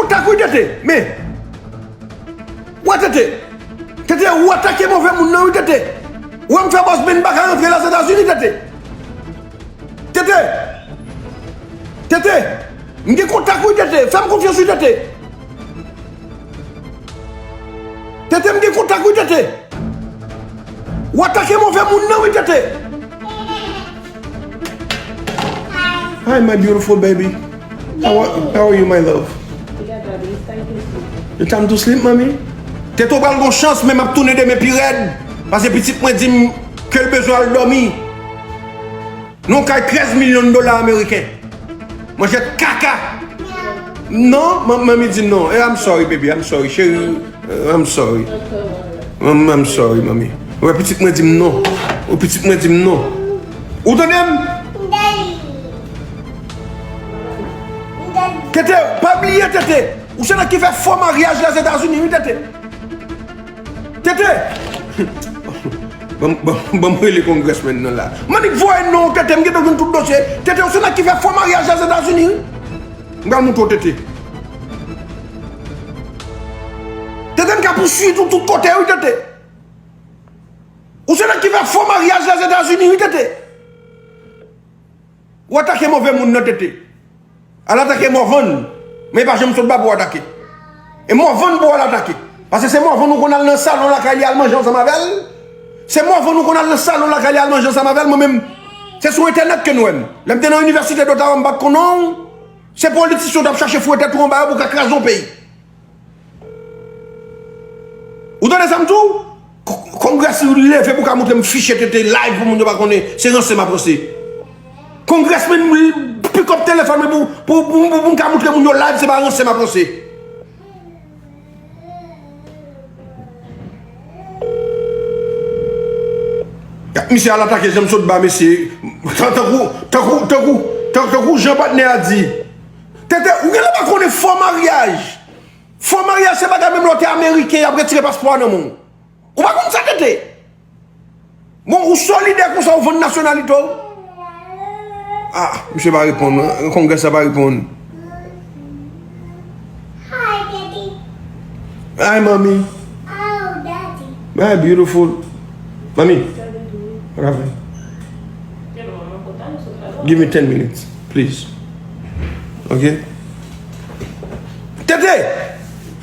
Ou ta kouri tete men Ou wè tete Tete ou atake move moun nan wi tete Ou wèm fè bòs men m paka rantre la zetazini tete Tete Tete M gen kontak wi tete fèm konfyans wi tete Tete m gen kontak wi tete Ou atake move moun nan wi tete. Hi my beautiful baby how are you my love It's time to sleep mami Tete ou pral gon chans men map tounen demen pi rèd pase pitit mwen dim kel bezwen al domi nan yon kay 13 milyon dola ameriken Mwen jet kaka. Non, manmi di non. Eh, I'm sorry baby, I'm sorry chérie. Eh, I'm sorry. Manmi, I'm sorry manmi. Wè pitit mwen di m non. Ou pitit mwen di m non. Ou tande m? Tete, pa bliye tete. Ou se nèg ki fè fo maryaj la Zetazini wi tete. Tete! Banm rele congressman nan la. Manik voye non Tete m gen dwa jwenn tout dosye. Tete ou se nèg ki fè fo maryaj a Zetazini wi. M pral montre w Tete. Tete m ka pouswiv ou tout kote wi Tete. Ou se nèg ki fè fo maryaj la Zetazini wi Tete. Ou atake move moun nan tete. Al atake Morvan. Men pa janm sot ba pou atake. E Morvan pou al atake. Pase se Morvan ou konn al nan salon lakay li al manje ansanm avèl. Se Morvan ou konn al nan salon lakay li al manje ansanm avèl. Mwen menm se sou entènèt ke nou wèm. Lè m te nan inivèsite Dotawa m pat konnen w. Se politisyen w tap chache fouwe tèt ou anba yo pou ka kraze yon peyi. Ou tande sa m di w? Kongrè si li leve pou ka montre m fichye tete live pou moun yo pa konnen se ranse m ap ranse. Kongrès men m pick up telefòn mwen pou m ka montre moun yo live se pa ranse m ap ranse. Misye al atake janm sot ba mesye. Tankou janm patnè a di. Tenten ou genlè pa konnen fo maryaj Fo maryaj se bagay menm lè w te ameriken yap retire paspò a nan men w Ou pa konn sa tenten Bon ou solidè konsa ou vann nasyonalite w Ah misye pa reponn Kongrès la pa reponn Hi mommy My beautiful Mommy What happened Give me ten minutes Please ok Tete!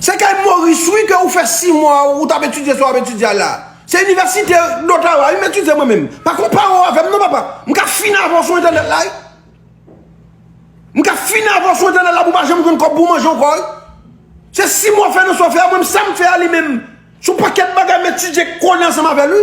Se kay Maurice wi ke ou fè 6 mwa ou tap etidye sa wap etidye a la. Se inivèsite Dottawa wi m etidye mwen menm. Pa konpare w avè m non papa. M ka fin avè w sou entènèt la wi. M ka fin avè w sou entènèt la pou w pa janm jwenn kòb pou w manje ankò wi. Se 6 mwa w fè nan sa w fè a mwen menm sa m fè a li menm. Son pakèt bagay m etidye konnen ansanm avè l wi.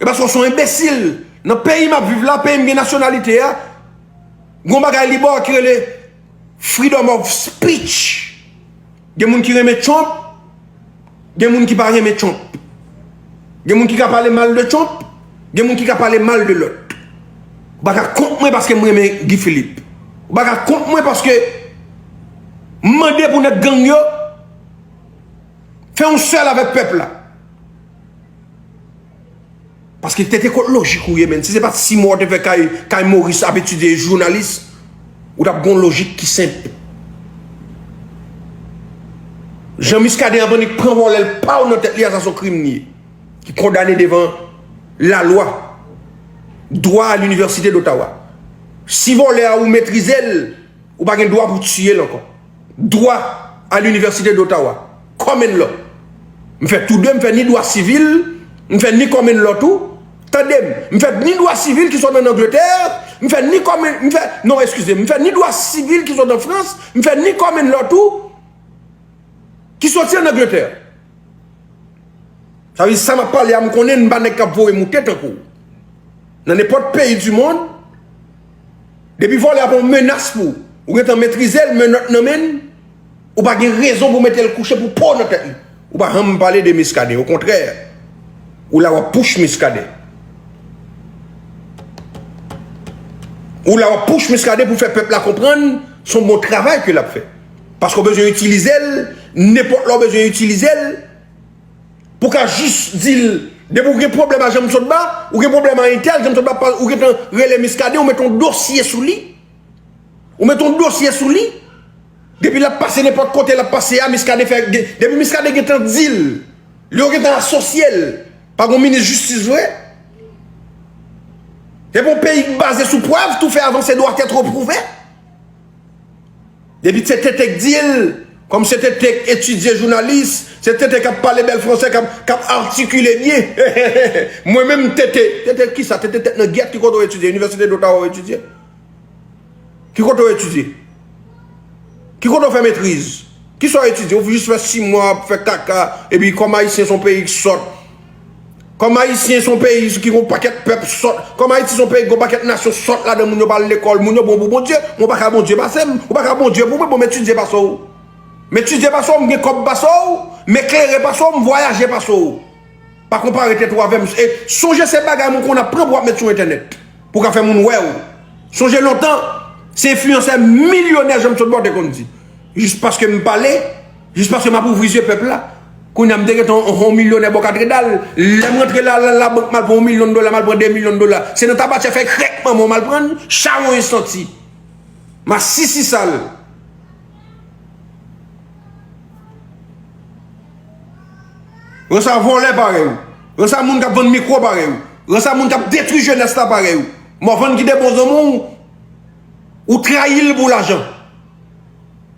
E paske w son enbesil. Nan peyi map viv la, peyi m gen nasyonalite a, gon bagay li bo a ki rele freedom of speech. Gen moun ki renmen Trump, gen moun ki pa renmen Trump. Gen moun ki ka pale mal de Trump, gen moun ki ka pale mal de lòt. Ou pa ka kont mwen paske m renmen Guy Philippe. Ou pa ka kont mwen paske m mande pou nèg gang yo fè yon sèl avèk pèp la. Paske tete kot lojik ou ye men. Si se pat si mò te fè kay moris ap etidye jounalis. Ou tap gon lojik ki senp. Jan miskaden ap annik pran vòlèl paw nan tèt li a sa son krim li. Ki kondane devan la lwa. Dwa a l'universite d'Ottawa. Si vòlè a ou metrizel. Ou pa gen dwa pou tiye l ankò. dwa a l'université d'Ottawa, common law. M fè tou de, m fè ni dwa sivil, m fè ni common law tou. Tande m, m fè ni dwa sivil ki sot an Angletè, m fè ni common, m fè, non eskize m, m fè ni dwa sivil ki sot an Frans, m fè ni common law tou ki soti an Angletè. Sa vle di sa m ap pale a m konnen m pa nèg k ap voye moute tankou w. Nan nenpòt peyi du mond, Depi vòlè a pa yon menas pou ou, ou gentan metrize l, menòt nan men n, ou pa gen rezon pou mete l kouche pou po nan tèt li. Ou pa janm pale de Miskaden, okontrè, ou la w ap pouch Miskaden. Ou la w ap pouch Miskaden pou fè pèp la konprann se yon bon travay ke l ap fè. Paske w bezwen itilize l, nenpòt lè w bezwen itilize l. Pou ka jis di l, depi w gen pwoblèm a Janmsotba, ou gen pwoblèm a entèl, Janmsotba pa, ou gentan rele Miskaden, ou mete yon dosye sou li. Ou mete yon dosye sou li. Depi l ap pase nenpòt kote l ap pase a, Miskaden fè, depi Miskaden gentan di l, li yo gentan asosye l, pa gen yon minis jistis vre. Epi yon peyi ki baze sou prèv, tou fè avanse dwa tèt repwouve. Depi se TT k di l, kòm se TT k etidye jounalis, se TT k ap pale bèl fransè, k ap atikile byen, hehehehe, mwen menm TT, TT ki sa, TT tèt nan gyèt, ki kote w etidye, Inivèsite Dotawa w etidye? Ki kote w etidye? Ki kote w fè metriz? Ki sa w etidye? Ou jis fè 6 mwa ap fè kaka, epi kòm Ayisyen s on peyi k sòt, Kòm ayisyen son peyi ki gon pakèt pèp sòt, kòm ayiti son peyi ki gon pakèt nasyon sòt ladan moun yo pa al lekòl, moun yo bon pou Bondye, mwen paka Bondye pasem, ou paka Bondye pou mwen bon m etidye pase w, m etidye pase w, m gen kòb pase w, m eklere pase w, m vwayaje pase w. Pa konpare tèt ou avè m e sonje se bagay moun konn ap pran pou ap met sou entènèt pou ka fè moun wè w. Sonje lontan se enfliyansè milyonè Janmsotba w te konn di. Jis paske m pale, jis paske m ap ouvri zye pèp la. Kounye a m te gen ton yon milyonè bò katredal. Lè m rantre la la bank m al pran yon milyon dola, m al pran 2 milyon dola. Se nan tabatiè fè krèk manman w m al pran l, chawony santi. Masisi sal. Ransa vòlè parèy ou. Ransa moun k ap vann mikwo parèy ou. Ransa moun k ap detwi jenès la parèy ou. Mòvann ki te bon zanmi w, ou trayi l pou lajan.